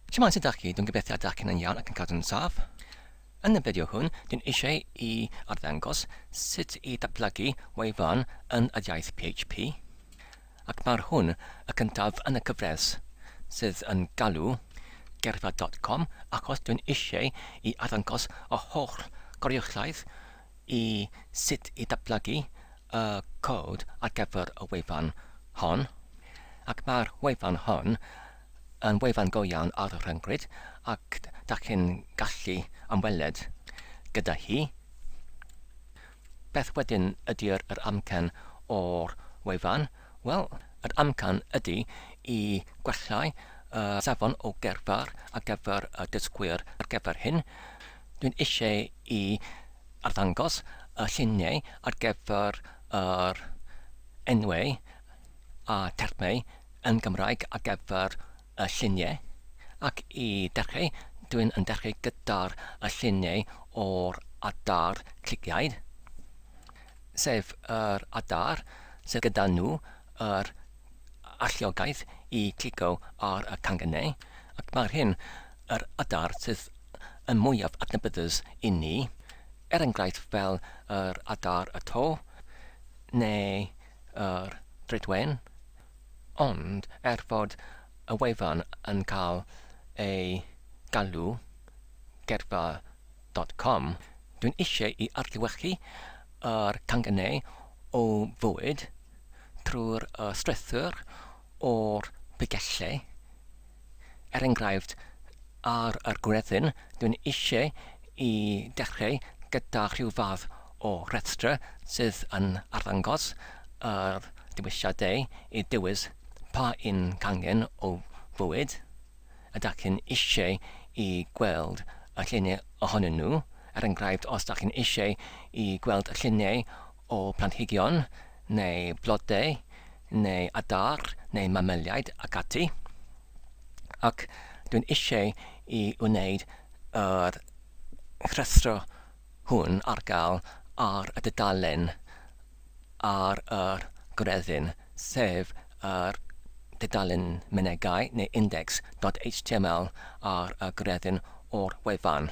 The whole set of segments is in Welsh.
Siamans ydych chi, dwi'n gobeithio ydych chi'n yn iawn ac yn cadw'n saff. Yn y fideo hwn, dwi'n eisiau i arddangos sut i datblygu wefan yn yr iaith PHP. Ac mae'r hwn y cyntaf yn y cyfres sydd yn galw gerfa.com achos dwi'n eisiau i arddangos y holl goruchaeth i sut i ddatblygu y cod ar gyfer y wefan hon, ac mae'r wefan hon yn wefan go iawn ar y rhyngrwyd ac da chi'n gallu ymweled gyda hi. Beth wedyn ydy'r yr amcan o'r wefan? Wel, yr amcan ydy i gwellai y safon o gerddar ar gyfer y dysgwyr ar gyfer hyn. Dwi'n eisiau i arddangos y lluniau ar gyfer yr enwau a termau yn Gymraeg ar gyfer y lluniau, ac i ddechrau dwi'n yn dechrau gyda'r lluniau o'r adar cliciaid, sef yr adar sydd gyda nhw yr alluogaeth i glicio ar y cangynau, ac mae'r hyn yr adar sydd yn mwyaf adnabyddus i ni, er enghraifft fel yr adar y to, neu yr dridwen, ond er fod y wefan yn cael ei galw Gerddfa dot com, dwi'n eisiau i adlewyrchu yr canghennau o fywyd trwy'r strwythur o'r Prygellau Er enghraifft, ar yr gwredyn, dwi'n eisiau i dechreu gyda rhyw fath o rhestr sydd yn arddangos yr dewisiadau i ddewis pa un cangen o fwyd y dach chi'n eisiau i gweld y lluniau ohonyn nhw, er enghraifft os dach chi'n eisiau i gweld lluniau o blanhigion neu blodau neu adar neu mamaliaid ac ati, ac dwi'n eisiau i wneud yr rhuthro hwn ar gael ar y dudalen ar yr gwreddyn, sef yr dudalen Mynegai neu Index dot html ar y gwreddyn o'r wefan.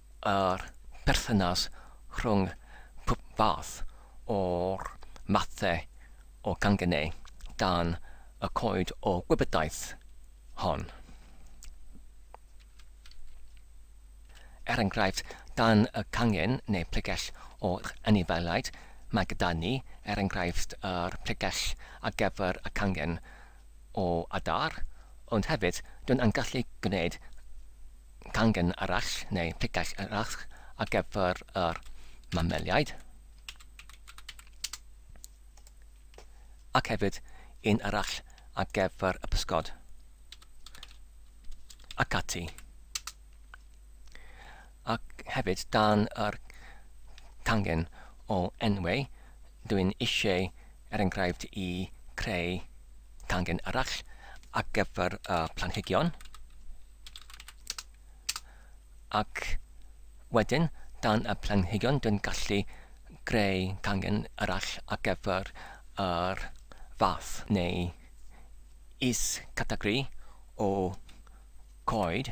yr perthynas rhwng pob fath o'r mathau o gangynnau dan y Coed o Gwybodaeth hon. Er enghraifft, dan y cangen neu pregell o'r anifeiliaid, mae gyda ni, er enghraifft, yr pregell ar gyfer y cangen o adar, ond hefyd dyn yn gallu gwneud cangen arall neu picell arall ar gyfer yr mameliaid, ac hefyd un arall ar gyfer y pysgod, ac ati. Ac hefyd dan yr cangen o enwau, dw i'n eisiau, er enghraifft, i creu cangen arall ar gyfer y planhigion. Ac wedyn, dan y planhigion, dw i'n gallu creu cangen arall ar gyfer yr fath neu is-categori o coed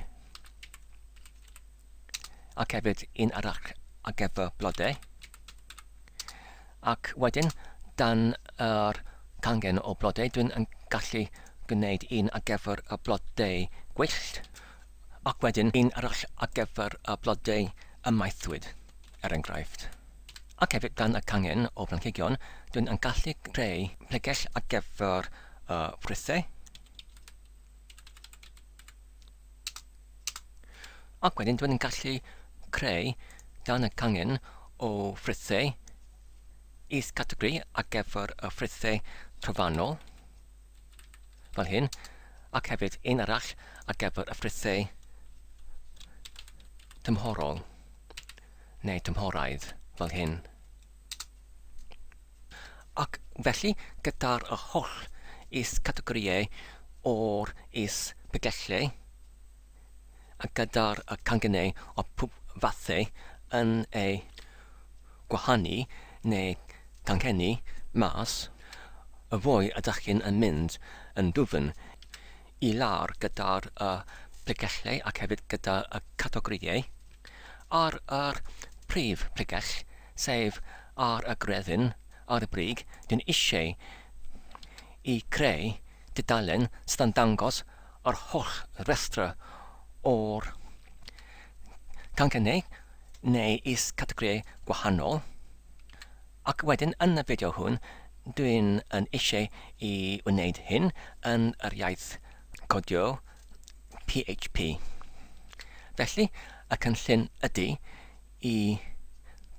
ac hefyd un arall ar gyfer blodau ac wedyn dan yr cangen o blodau dwi'n yn gallu gwneud un ar gyfer y blodau gwyllt ac wedyn un arall ar gyfer y blodau ymaethwyd er enghraifft ac hefyd dan y cangen o blanhigion dwi'n yn gallu creu pregell ar gyfer y ffrwythau Ac wedyn dwi'n gallu creu dan y cangen o frithau is-categori ar gyfer y frithau trofannol, fel hyn, ac hefyd un arall ar gyfer y frithau tymhorol, neu tymhoraidd, fel hyn. Ac felly, gyda'r holl is-gategorïau o'r is-bregethwrllau, a gyda'r cangynnau o pob fathau yn eu gwahanu neu ganghennu mas, y fwy ydych chi'n mynd yn ddwfn i lawr gyda'r y pregellau ac hefyd gyda y categorïau ar yr prif bregell sef ar y gredyn ar y brig dwi'n eisiau i creu dudalen sydd yn dangos yr holl restrau o'r canghennau neu is-categorïau gwahanol Ac wedyn yn y fideo hwn, dwi'n yn eisiau i wneud hyn yn yr iaith codio PHP. Felly, y cynllun ydy i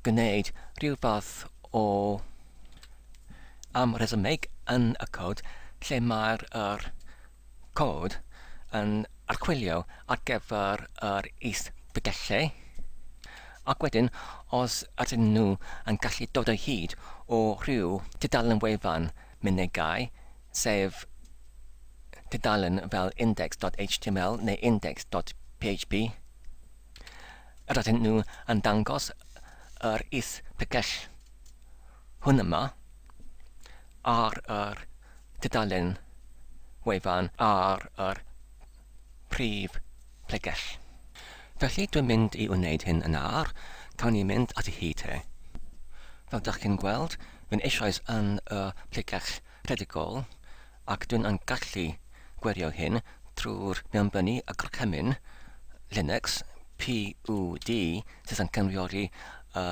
gwneud rhyw fath o am resymeg yn y cod lle mae'r yr Code yn archwilio ar gyfer yr is-bdellau, ac wedyn os ydyn nhw yn gallu dod o hyd o ryw dudalen wefan mynegai, sef dudalen fel index.html neu index.php, yr ydyn nhw yn dangos yr is-bdell hwn yma. ar yr tudalen wefan ar yr prif bregell. Felly dwi'n mynd i wneud hyn yn ar, cawn ni mynd ati hi te. Fel dych chi'n gweld, fi'n eisoes yn y pregell rhedigol ac dwi'n yn gallu gwerio hyn trwy'r mewnbynnu y gorchymyn Linux PUD sydd yn cynryori y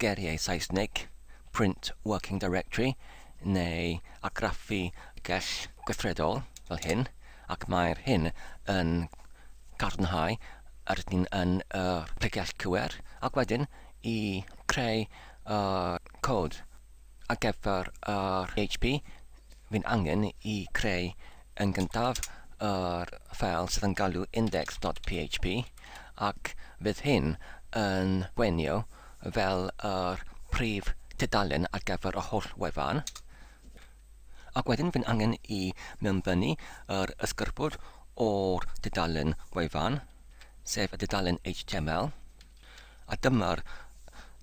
geiriau Saesneg print working directory neu argraffu gell gweithredol fel hyn ac mae'r hyn yn cadarnhau yr ydyn ni yn y pregell cywir ac wedyn i creu y cod ar gyfer yr HP fi'n angen i creu Yn gyntaf, yr ffeil sydd yn galw index.php, ac fydd hyn yn gwenio fel yr prif tudalen ar gyfer y holl wefan. Ac wedyn fy'n angen i mewnfynnu yr ysgyrpwr o'r dudalen gwefan, sef y dudalen HTML. A dyma'r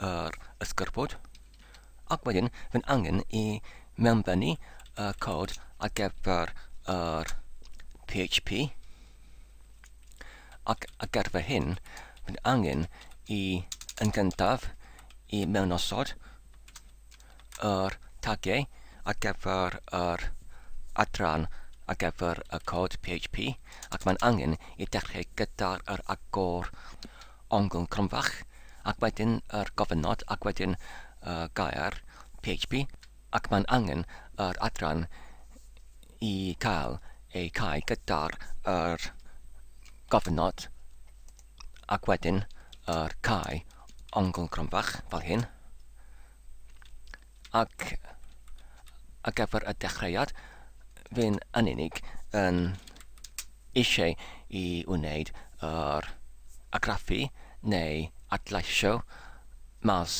yr ysgyrpwd. Ac wedyn, fy'n angen i mewnbennu y cod ar gyfer yr PHP. Ac ar gyfer hyn, fy'n angen i yn gyntaf i mewnosod yr tagiau ar gyfer yr adran ar gyfer y cod PHP ac mae'n angen i dechrau gyda'r yr agor ongl cronfach ac wedyn yr gofynnod ac wedyn y gair PHP ac mae'n angen yr adran i cael ei cau gyda'r yr gofynnod Ac wedyn yr cae ongl gronfach, fel hyn. Ac ar gyfer y dechreuad, fi'n yn unig yn eisiau i wneud yr agraffu neu adleisio mas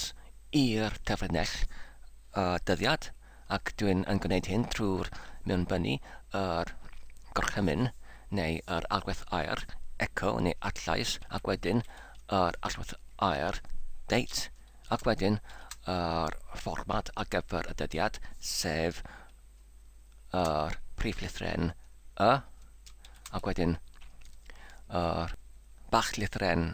i'r cyfrinell y dyddiad. ac dwi'n yn gwneud hyn trwy'r mewnbynnu, yr gorchymyn neu yr allwedd aer, echo neu adllais, ac wedyn yr allwedd aer, date, ac wedyn yr fformat ar gyfer y dyddiad, sef yr prif lythren y, ac wedyn yr bach lythren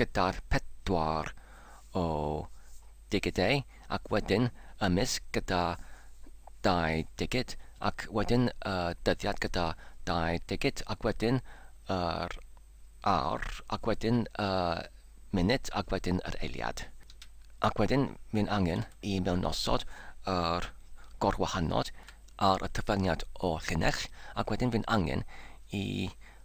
gyda'r pedwar o digidau ac wedyn y mis gyda dau digid ac wedyn y dyddiad gyda dau digid ac wedyn yr awr ac wedyn y munud ac wedyn yr eiliad ac wedyn mae'n angen i mewnosod yr gorwahanod ar y cyfraniad o llinell ac wedyn mae'n angen i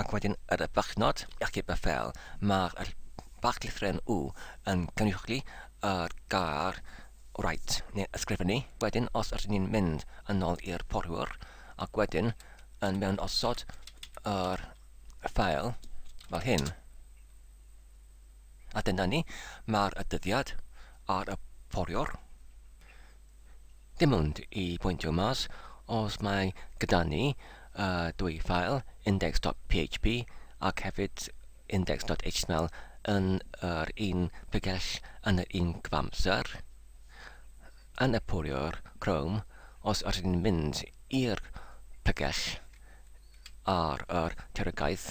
Ac wedyn ar y farchnad, ac heb y fel, mae'r barc lythren U yn cynrychioli yr gair write, neu ysgrifennu. Wedyn, os ydyn ni'n mynd yn ôl i'r porwr, ac wedyn yn mewn osod yr ffael fel hyn. A dyna ni, mae'r dyddiad ar y porwr. Dim ond i bwyntio mas, os mae gyda ni y dwy ffael, index.php ac hefyd index.html yn yr un pregell yn yr un cyfamser, yn y poriwr Chrome, os ydyn ni'n mynd i'r pregell ar yr terogaeth,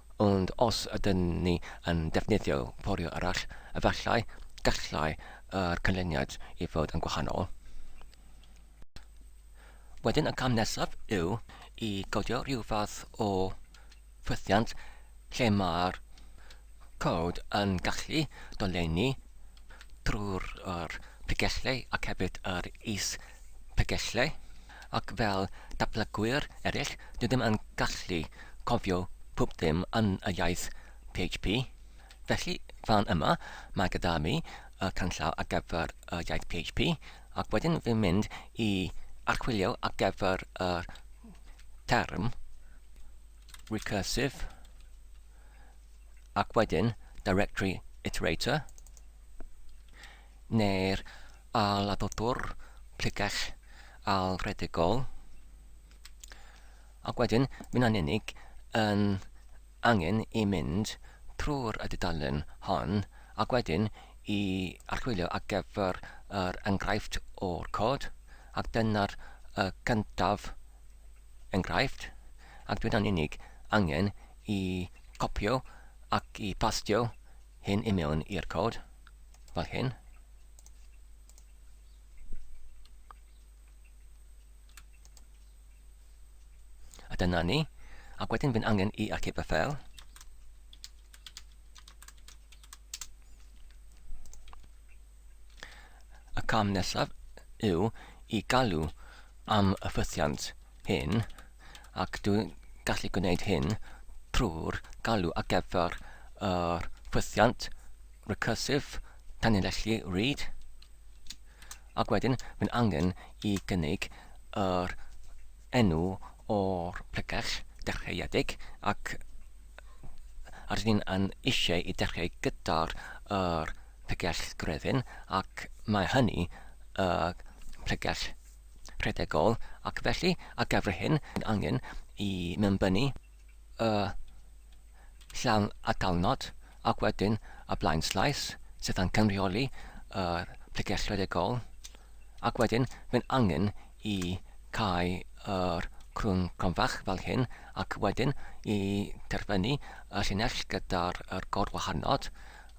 Ond os ydyn ni yn defnyddio porio arall, efallai gallai yr canlyniad i fod yn gwahanol. Wedyn y cam nesaf yw i godio rhyw fath o ffwythiant lle mae'r cod yn gallu dolenni trwy'r pregellau ac hefyd yr is-pregellau. ac fel datblygwyr eraill, dwi ddim yn gallu cofio pob dim yn y iaith PHP. Felly, fan yma, mae gyda fi y canllaw ar gyfer y iaith PHP, ac wedyn fi'n mynd i archwilio ar gyfer y term recursive, ac wedyn directory iterator, neu'r ail-adudwr pregeth ailredigol, ac wedyn mi'n anennig yn angen i mynd trwy'r y dudalen hon ac wedyn i archwilio ar gyfer yr enghraifft o'r cod, ac dyna'r y cyntaf enghraifft, ac dwi'n anennig angen i copio ac i pastio hyn i mewn i'r cod. fel hyn. A dyna ni. Ac wedyn fi'n angen i archif y ffel. Y cam nesaf yw i galw am y ffythiant hyn, ac dwi'n gallu gwneud hyn trwy'r galw ar gyfer yr ffwythiant recursive tanlinellu read, ac wedyn mae'n angen i gynnig yr enw o'r pregell dechreuedig ac rydyn ni'n yn eisiau i dechrau gyda'r yr pregell grefyn ac mae hynny y pregell rhedegol ac felly ar gyfer hyn mae angen i mewnbynnu y llawn atalnod ac wedyn y blaenslais sydd yn cynrychioli y pregeth rhedegol ac wedyn mae'n angen i cau yr crwn cronfach fel hyn ac wedyn i terfynu y llinell gyda'r gorwahanod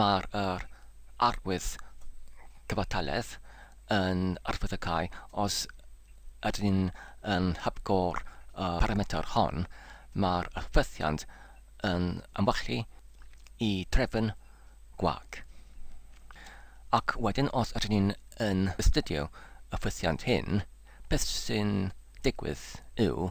Mae'r arwydd cyfartaledd yn arwydd y cau os ydyn ni yn hepgor y parametr hon, mae'r hyfforddiant yn amwalchu i drefn gwag. Ac wedyn os ydyn ni yn astudio y hyfforddiant hyn, beth sy'n digwydd yw,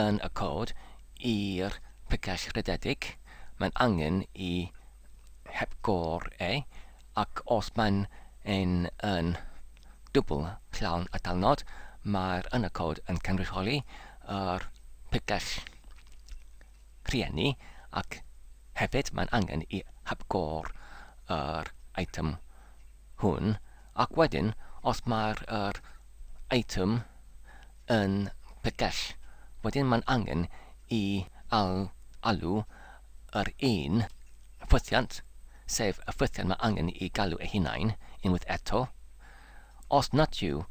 Yn y Cod i'r Picell Rhededig, mae'n angen i hepgor e, ac os mae'n un yn dwbl llawn atalnod, mae'r Yn y Cod yn cynrychioli yr picell rhieni, ac hefyd mae'n angen i hepgor yr eitem hwn, ac wedyn os mae'r yr eitem yn pegell, wedyn mae'n angen i al alw yr un ffwythiant, sef y ffwythiant mae angen i galw eu hunain, unwaith eto. Os nad yw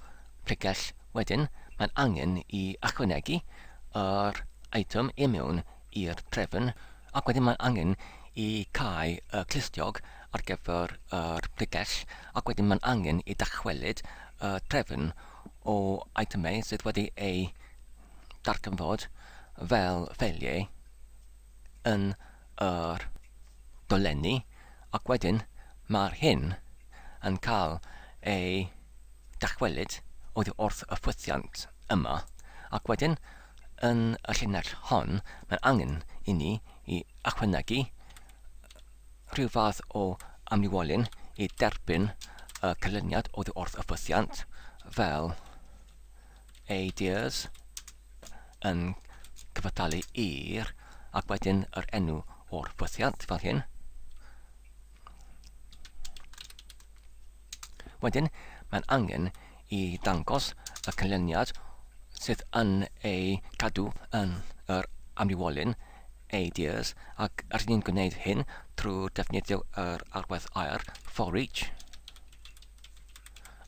pegell, wedyn mae'n angen i ychwanegu yr eitem i mewn i'r trefn ac wedyn mae angen i cau y clustiog ar gyfer yr pregell ac wedyn mae'n angen i dachwelyd y trefn o eitemau sydd wedi eu darganfod fel ffeiliau yn yr dolenni ac wedyn mae'r hyn yn cael ei dachwelyd oddi wrth y ffwythiant yma ac wedyn Yn y llinell hon, mae'n angen i ni i ychwanegu rhyw fath o amlywolyn i derbyn y canlyniad oddi wrth y ffwythiant, fel ADIRS yn cyfathalu i'r, ac wedyn yr enw o'r ffwythiant, fel hyn. Wedyn, mae'n angen i ddangos y canlyniad sydd yn eu cadw yn yr amrywiolyn, ADIRS, ac rydyn ni'n gwneud hyn trwy ddefnyddio yr arwaith aer, for each,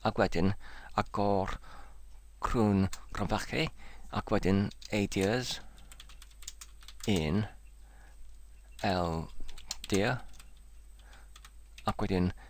ac wedyn agor crwn cromfachu, ac wedyn ADIRS, in, LDIR, ac wedyn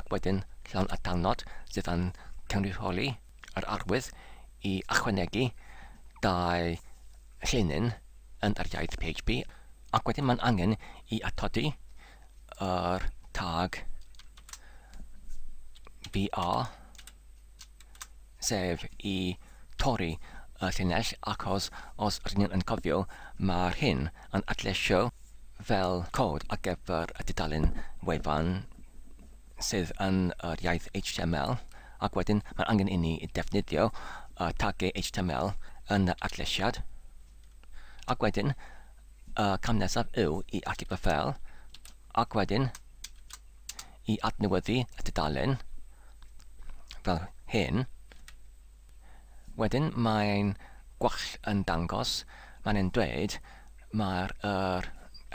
ac wedyn llawn y darnod sydd yn cynrychioli yr arwydd i ychwanegu dau llinyn yn yr iaith PHP ac wedyn mae'n angen i atodi yr tag BR sef i torri y llinell achos os rydyn ni yn cofio mae'r hyn yn adleisio fel cod ar gyfer y dudalen wefan sydd yn yr iaith HTML ac wedyn mae'n angen inni i ddefnyddio y tagiau HTML yn yr adleisiad ac wedyn y cam nesaf yw i allu fy fel ac wedyn i adnewyddu y dudalen fel hyn. Wedyn mae'n gwall yn dangos, mae'n ein dweud mae'r er,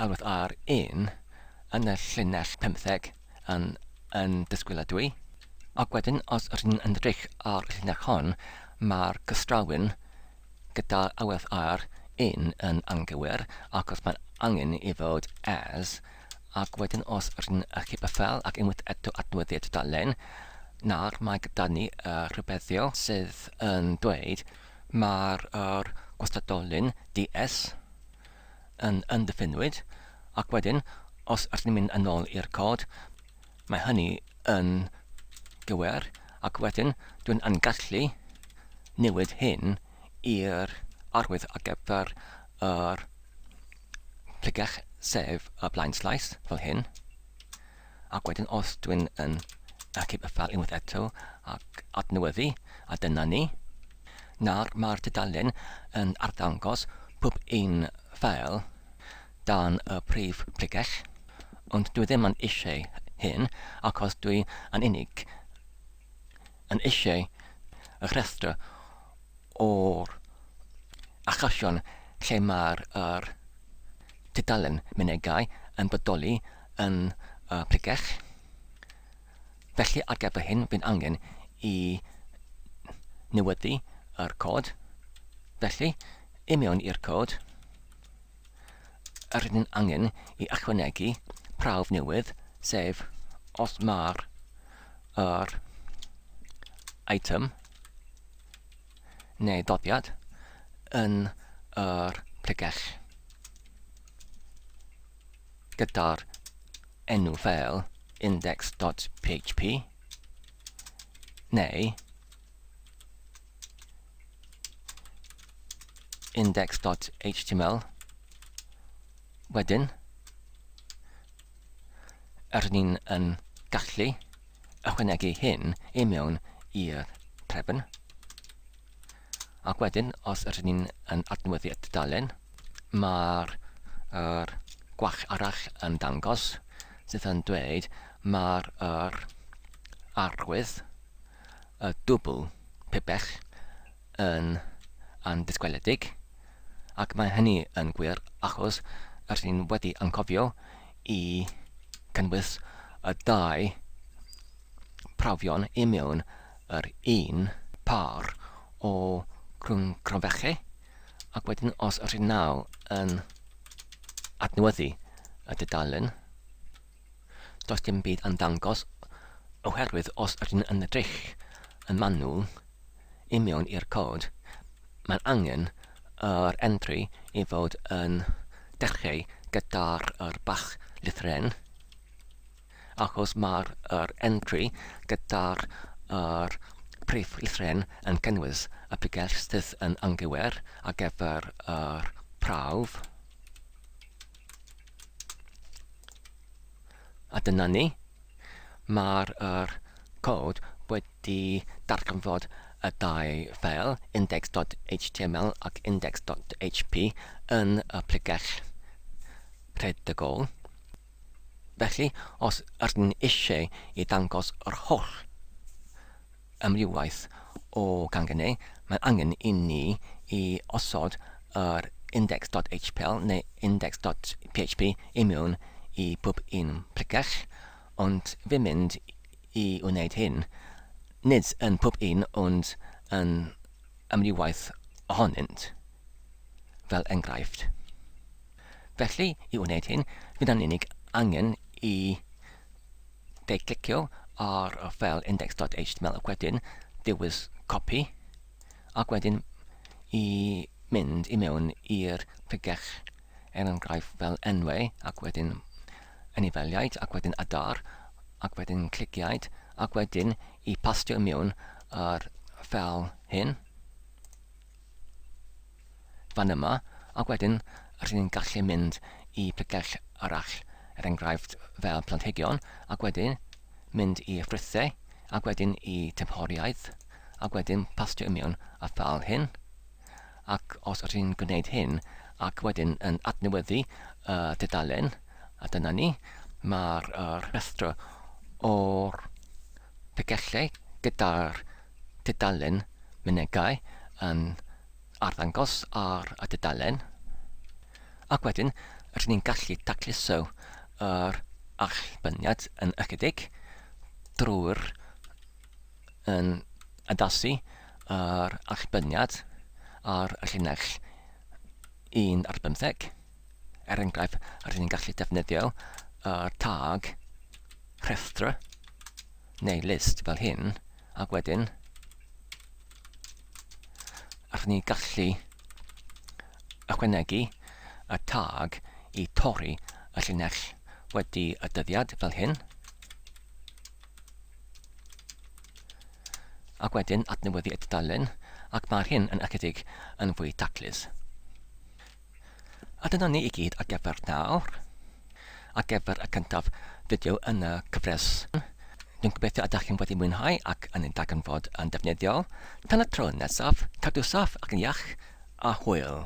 elwedd ar un yn y llinell 15 yn, yn disgwyliadwy. Ac wedyn, os ydych chi'n edrych ar y llinell hon, mae'r cystrawyn gyda elwedd ar un yn anghywir ac os mae'n angen i fod as, Ac wedyn os r'yn chi bythel ac unwaith eto adnewyddu y tudalen, nawr mae gyda ni y rhybeddion sydd yn dweud mae'r yr gwastadolyn DS yn yn diffinwyd ac wedyn os r'yn mynd yn ôl i'r cod mae hynny yn gywir ac wedyn dwi'n yn gallu newid hyn i'r arwydd ar gyfer yr Plygiwch Save ar flaen sleis, fel hyn. Ac wedyn os dwi'n yn achub y ffeil unwaith eto ac adnewyddu, a dyna ni. Nawr mae'r tudalen yn arddangos pob un ffeil dan y prif plygiwch, ond dwi ddim yn eisiau hyn achos dwi yn unig yn eisiau y rhestr o'r achosion lle mae'r yr tudalen mynegai yn bodoli yn y pregeth. Felly ar gyfer hyn bydd angen i newyddu yr cod. Felly, i mewn i'r cod. yr ydym angen i ychwanegu prawf newydd, sef os mae'r yr eitem neu ddoddiad yn yr pregell gyda'r enw fel index.php neu index.html. Wedyn, yr ni'n yn gallu ychwanegu hyn i mewn i'r trefn. Ac wedyn, os yr ni'n yn adnewyddu y dudalen, mae'r er, gwach arall yn dangos sydd yn dweud mae'r er, arwydd y dwbl pibell yn andisgwyledig, ac mae hynny yn gwir achos rydyn ni wedi anghofio i gynnwys y dau brofion i mewn yr un pâr o grwncronfeche, ac wedyn os rydyn naw yn adnewyddu y dudalen, does dim byd yn dangos oherwydd os rydyn yn edrych yn manwl i mewn i'r cod, mae'n angen yr entry i fod yn dechreu gyda'r yr bach lithren, achos mae'r yr entry gyda'r yr prif lithren yn cynnwys y pregell sydd yn anghywir ar gyfer yr prawf. A dyna ni. Mae'r er, cod wedi darganfod y dau ffeil, index.html ac index.php, yn y pregell rhedegol. Felly, os ydyn eisiau i ddangos yr holl amrywiaeth o ganghennau, mae'n angen i ni i osod yr index.htpl neu index.php i mewn i bob un pregeth, ond fy mynd i wneud hyn, nid yn pob un ond yn amrywiaeth ohonynt, fel enghraifft. Felly, i wneud hyn, fydd yn unig angen i Fe'i clicio ar y ffeil index.html ac wedyn dewis copy ac wedyn i mynd i mewn i'r pregeth er enghraifft fel enwau ac wedyn anifeiliaid ac wedyn adar ac wedyn cliciaid ac wedyn i pastio mewn yr ffeil hyn fan yma, ac wedyn rydyn ni'n gallu mynd i picell arall, er enghraifft fel planhigion, ac wedyn mynd i ffrwythau, ac wedyn i tymhoriaeth, ac wedyn pastio i mewn a fel hyn. Ac os rydyn ni'n gwneud hyn, ac wedyn yn adnewyddu y tudalen, a dyna ni, mae'r rhestr o'r pigellau gyda'r tudalen Mynegai yn arddangos ar y dudalen, ac wedyn rydyn ni'n gallu tacluso yr allbynniad yn ychydig drwy'r yn addasu yr allbynniad ar y llinell 1 ar 50. Er enghraifft, rydyn ni'n gallu defnyddio y tag rhestra neu list fel hyn, ac wedyn allwn ni gallu ychwanegu y tag i torri y llinell wedi y dyddiad fel hyn, ac wedyn adnewyddu y tudalen, ac mae'r hyn yn ychydig yn fwy taclus. A dyna ni i gyd ar gyfer nawr. Ar gyfer y cyntaf fideo yn y cyfres. Dwi'n gobeithio ydych chi'n wedi mwynhau ac yn ei darganfod yn defnyddiol. Tan y tro nesaf, cadw saff ac yn iach, a hwyl!